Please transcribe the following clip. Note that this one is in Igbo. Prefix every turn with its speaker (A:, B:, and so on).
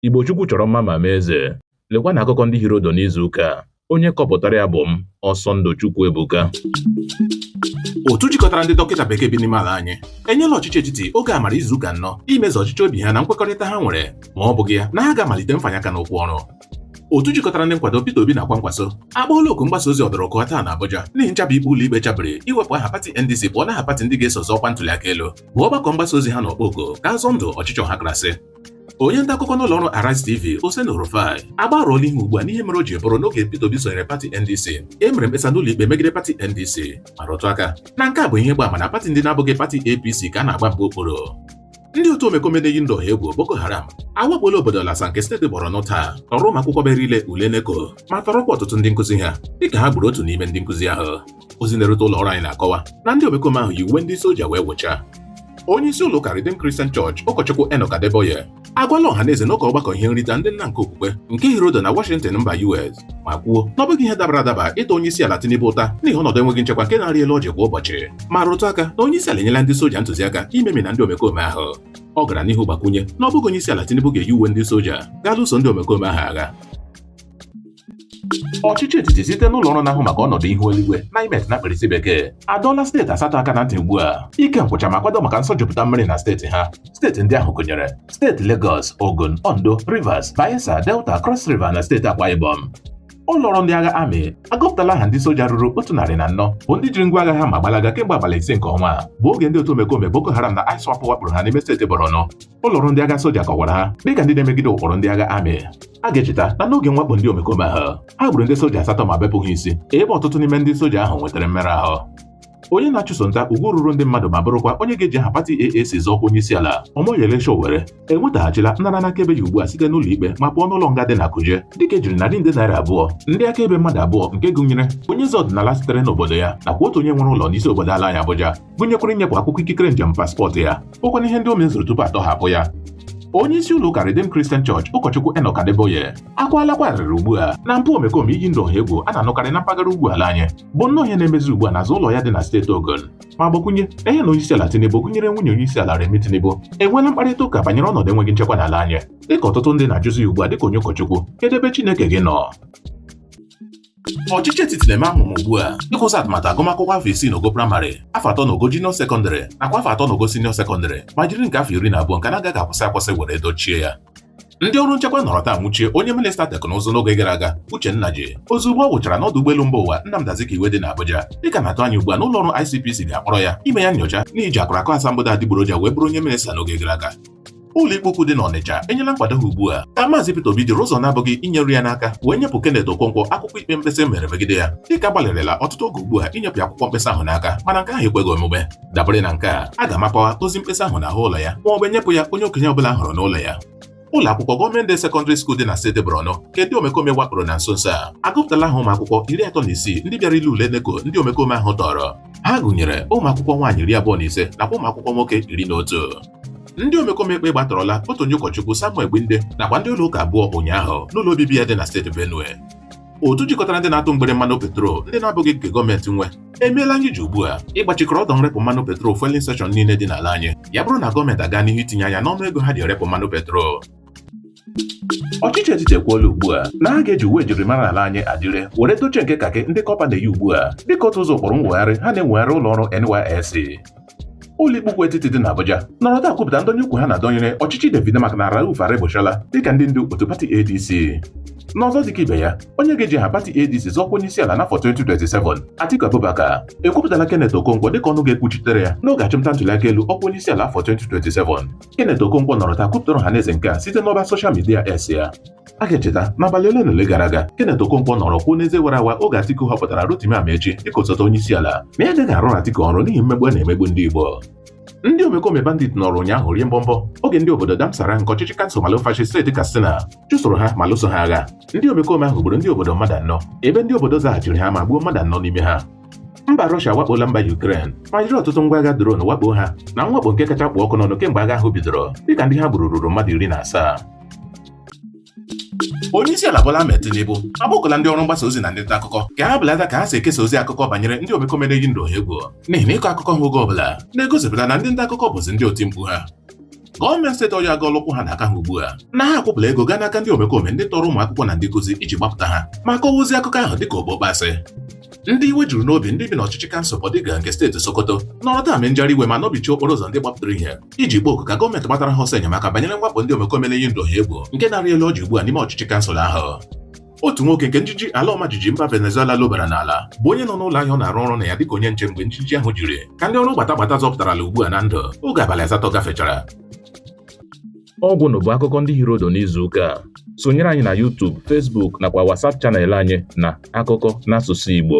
A: Igbo Chukwu chọrọ mma ma mee eze. Lekwanụ akụkọ ndị hiri odo n'izu ụka a. Onye kọpụtara ya bụ m, Ọsọndụ Chukwuebuka.
B: otu jikọtara ndị dọkịta bekee bi n'ime ala anyị enyela ọchịchị etiti oge amara izu ụka anọ imezu ọchịchọ obi ha na nkwekọrịta ha nwere ma ọ bụghị ya na ha ga-amalite mfanye aka n'ukwu ọrụ otu jikọtara ndị nkwado Peter Obi na Kwankwaso akpọọla oku mgbasa ozi ọdọrọkụọ taa na Abuja n'ihi nchabi ikpe ụlọ ikpe chabiri iwepụ aha pati NDC pụọ n'aha pati ndị ga-eso zọ ọkwa ntuli aka elu bụ ọgbakọ mgbasa ozi ha na-akpọ oku ka a zọọ ndụ ọchịchị ọhakarasị Onye nta akụkọ n'ụlọ ọrụ Arise TV Oseni Rufai agbarụọla ihu ugbu a n'ihe mere o ji bụrụ n'oge Peter Obi sonyere pati NDC e mere mkpesa n'ụlọ ikpe megide pati NDC ma rụtụ aka na nke a bụ ihe gba ama na pati ndị na-abụghị pati APC ka a na-agba mgba okpuru ndị otu omekome na-eyi ndụ egwu Boko Haram awakpola obodo Lassa nke steeti Borno taa tọrọ ụmụ akwụkwọ bịara ile ule NECO ma tọrọkwa ọtụtụ ndị nkụzi ha dịka ha gburu otu n'ime ndị nkụzi ahụ ozi na-erute ụlọ ọrụ anyị na-akọwa na ndị omekome ahụ yi uwe ndị soja wee wụchaa onye isi ụlọ ụka Redeemed Christian Church ụkọchukwu Enoch Adeboye agwala ọha na eze n'ụka ọgbakọ ihe nrite ndị nna nke okpukpe nke hiri odo na Washington mba US ma kwuo na ọ bụghị ihe dabara adaba ịta onye isi ala Tinubu ụta n'ihi ọnọdụ enweghị nchekwa nke na-arị elu ọjị kwa ụbọchị ma rụtụ aka na onye isi ala enyela ndị soja ntụziaka imemina ndị omekome ahụ ọ gara n'ihu gbakwunye na ọ bụghị onye isi ala Tinubu ga-eyi uwe ndị soja gaa lụso ndị omekome ahụ agha ọchịchị etiti site n'ụlọ ọrụ na-ahụ maka ọnọdụ ihu eluigwe NIMET na mkpirisi bekee adọọla steeti asatọ aka na ntị ugbu a ike nkwụcha ma kwado maka nsọjupụta mmiri na steeti ha steeti ndị ahụ gụnyere steeti Lagos Ogun Ondo Rivers Bayelsa Delta Cross River na steeti Akwa Ibom ụlọ ọrụ ndị agha amị agụpụtala aha ndị soja ruru otu narị na anọ bụ ndị jiri ngwa agha ha ma gbalaga kemgbe abalị ise nke ọnwa a bụ oge ndị otu omekome Boko Haram na ISWAP wakporo ha n'ime steeti Borno ụlọ ọrụ ndị agha soja kọwara ha dịka ndị na-emegide ụkpụrụ ndị agha amị a ga-echeta na n'oge mwakpo ndị omekome ahụ ha gburu ndị soja asatọ ma bepụ ha isi ebe ọtụtụ n'ime ndị soja ahụ nwetara mmerụ ahụ onye na-achụso nta ugwu ruru ndị mmadụ ma bụrụkwa onye ga-eji aha pati AAC zọọ ọkwa onye isi ala Omoyele Sowore enwetaghachila nnara n'akaebe ya ugbu a site n'ụlọ ikpe ma pụọ n'ụlọ nga dị na Kuje dịka ejiri narị nde naira abụọ ndị akaebe mmadụ abụọ nke gụnyere onye eze ọdịnala sitere n'obodo ya nakwa otu onye nwere ụlọ n'isi obodo ala anyị Abuja gụnyekwara inyepụ akwụkwọ ikikere njem paspọtụ ya bụkwanụ ihe ndị o mezuru tupu a tọhapụ ya onye isi ụlọ ụka Redeemed Christian Church ụkọchukwu Enoch Adeboye akwalakwa arịrị ugbu a na mpụ omekome iyi ndụ ọha egwu a na-anụkarị na mpaghara ugwu ala anyị bụ nnọọ ihe na-emezi ugbu a n'azụ ụlọ ya dị na steeti Ogun ma gbakwunye na ya na onye isi ala Tinubu gụnyere nwunye onye isi ala Remi Tinubu enweela mkparịta ụka banyere ọnọdụ enweghị nchekwa n'ala anyị dịka ọtụtụ ndị na-ajụzi ya ugbu a dịka onye ụkọchukwu kedụ ebe Chineke gị nọ Ọchịchị etiti na-eme amụma ugbu a idokwazi atụmatụ agụmakwụkwọ afọ isii n'ogo praịmarị afọ atọ n'ogo junior sekọndịrị nakwa afọ atọ n'ogo senior sekọndịrị ma jiri nke afọ iri na abụọ nke na-agaghị akwụsị akwụsị were dochie ya ndị ọrụ nchekwa nọrọ taa nwụchie onye minista teknụzụ n'oge gara aga Uche Nnaji ozugbo ọ wụchara n'ọdụ ụgbọelu mba ụwa Nnamdi Azikiwe dị n'Abuja dịka a na-atụ anya ugbu a na ụlọ ọrụ ICPC ga-akpọrọ ya ime ya nnyocha n'iji akụrakụ asambodo adịgboroja wee bụrụ onye minista n'oge gara aga ụlọikpe ukwu dị n'Ọnịcha enyela nkwado ha ugbu a ka Maazị Peter Obi jiri ụzọ na-abụghị inyeru ya n'aka wee nyepụ Kenneth Okonkwo akwụkwọ ikpe mkpesa e mere megide ya dịka a gbalịrịla ọtụtụ oge ugbu a inyepụ ya akwụkwọ mkpesa ahụ n'aka mana nke ahụ ekweghị omume dabere na nke a a ga-amapawa ozi mkpesa ahụ n'ahụ ụlọ ya ma ọ bụ e nyepụ ya onye okenye ọbụla a hụrụ n'ụlọ ya ụlọ akwụkwọ gọọmenti sekọndịrị skuul dị na steeti Borno nke ndị omekome wakporo na nso nso a agụpụtala aha ụmụ akwụkwọ iri atọ na isii ndị bịara ile ule NECO ndị omekome ahụ tọrọ ha gụnyere ụmụ akwụkwọ nwaanyị iri abụọ na ise nakwa ụmụ akwụkwọ nwoke iri na otu ndị omekome egbe gbatọrọla otu onye ụkọchukwu Samuel Gbinde nakwa ndị ụlọ ụka abụọ ụnyaahụ n'ụlọ obibi ya dị na steeti Benue otu jikọtara ndị na-atụ mgbere mmanụ petrol ndị na-abụghị nke gọọmenti nwe emeela anyị ji ugbu a ịgbachikọrọ ọdọ nrepụ mmanụ petrol fueling station niile dị n'ala anyị ya bụrụ na gọọmenti aga n'ihu itinye anya n'ọnụ ego ha ji erepụ mmanụ petrol ọchịchị etiti ekwuola ugbu a na ha ga-eji uwe njirimara ala anyị Adire were dochie nke kakị ndị kọpa na-eyi ugbu a dịka otu ụzọ ụkpụrụ nwegharị ha na-enwegharị ụlọ ọrụ NYSC ụlọikpe ukwu etiti dị n'Abuja nọrọ taa kwupụta ndọnye ukwu ha na-adọnyere ọchịchị David Mark na Rauf Aregbesola dịka ndị ndu otu pati ADC n'ọzọ dịka ibe ya onye ga-eji aha pati ADC zọọ ọkwa onye isi ala n'afọ 2027 Atiku Abubakar ekwupụtala Kenneth Okonkwo dịka ọnụ ga-ekwuchitere ya n'oge achụmnta ntuliaka elu ọkwa onye isi ala afọ 2027 Kenneth Okonkwo nọrọ taa kwupụtara ọhaneze nke a site n'ọba soshal midia X ya a ga-echeta n'abalị ole na ole gara aga Kenneth Okonkwo nọrọ kwuo n'eze wara awa oge Atiku họpụtara Rotimi Amaechi dịka osote onye isi ala na ya agaghị arụ Atiku ọrụ n'ihi mmegbu a na-emegbu ndị Igbo ndị omekome bandit nọrọ ụnyaahụ rie mbọmbọ oge ndị obodo Dansarai nke ọchịchị kansụl Malumfashi steeti Katsina chụsoro ha ma lụso ha agha ndị omekome ahụ gburu ndị obodo mmadụ anọ ebe ndị obodo zaghachiri ha ma gbuo mmadụ anọ n'ime ha mba Rọshia awakpola mba Yukren ma jiri ọtụtụ ngwa agha dron wakpo ha na mwakpo nke kacha kpụ ọkụ n'ọnụ kemgbe agha ahụ bidoro dịka ndị ha gburu ruru mmadụ iri na asaa onye isi ala Bola Ahmed Tinubu agbakọla ndị ọrụ mgbasa ozi na ndị nta akụkọ ka ha belata ka ha si ekesa ozi akụkọ banyere ndị omekome na-eyi ndụ ọha egwu n'ihi na ịkọ akụkọ ha oge ọbụla na-egosipụta na ndị nta akụkọ bụzi ndị oti mkpu ha gọọmenti steeti Ọyọ agọọla ụkwụ ha na aka ha ugbu a na ha akwụpụla ego gaa n'aka ndị omekome ndị tọrọ ụmụ akwụkwọ na ndị nkụzi iji gbapụta ha ma kọwaa ozi akụkọ ahụ dịka okpokpo asị ndị iwe juru n'obi ndị bi n'ọchịchị kansụl Bodinga nke steeti Sokoto nọrọ taa mee njegharị iwe ma nọbichie okporo ụzọ ndị gbapụtara ihe iji kpọọ oku ka gọọmenti gbatara ha ọsọ enyemaka banyere mwakpo ndị omekome na-eyi ndụ ha egwu nke na-arị elu ọjị ugbu a n'ime ọchịchị kansụl ahụ otu nwoke nke njiji ala ọmajiji mba Venezuela lobara n'ala bụ onye nọ n'ụlọ ahịa ọ na-arụ ọrụ na ya dịka onye nche mgbe njiji ahụ jiri ka ndị ọrụ gbata gbata zọpụtarala ugbu a na ndụ oge abalị asatọ gafechara
A: ọ gwụnụ bụ akụkọ ndị hiri ụdụ n'izu ụka a sonyere anyị na YouTube, Facebook nakwa WhatsApp chanel anyị na akụkọ n'asụsụ Igbo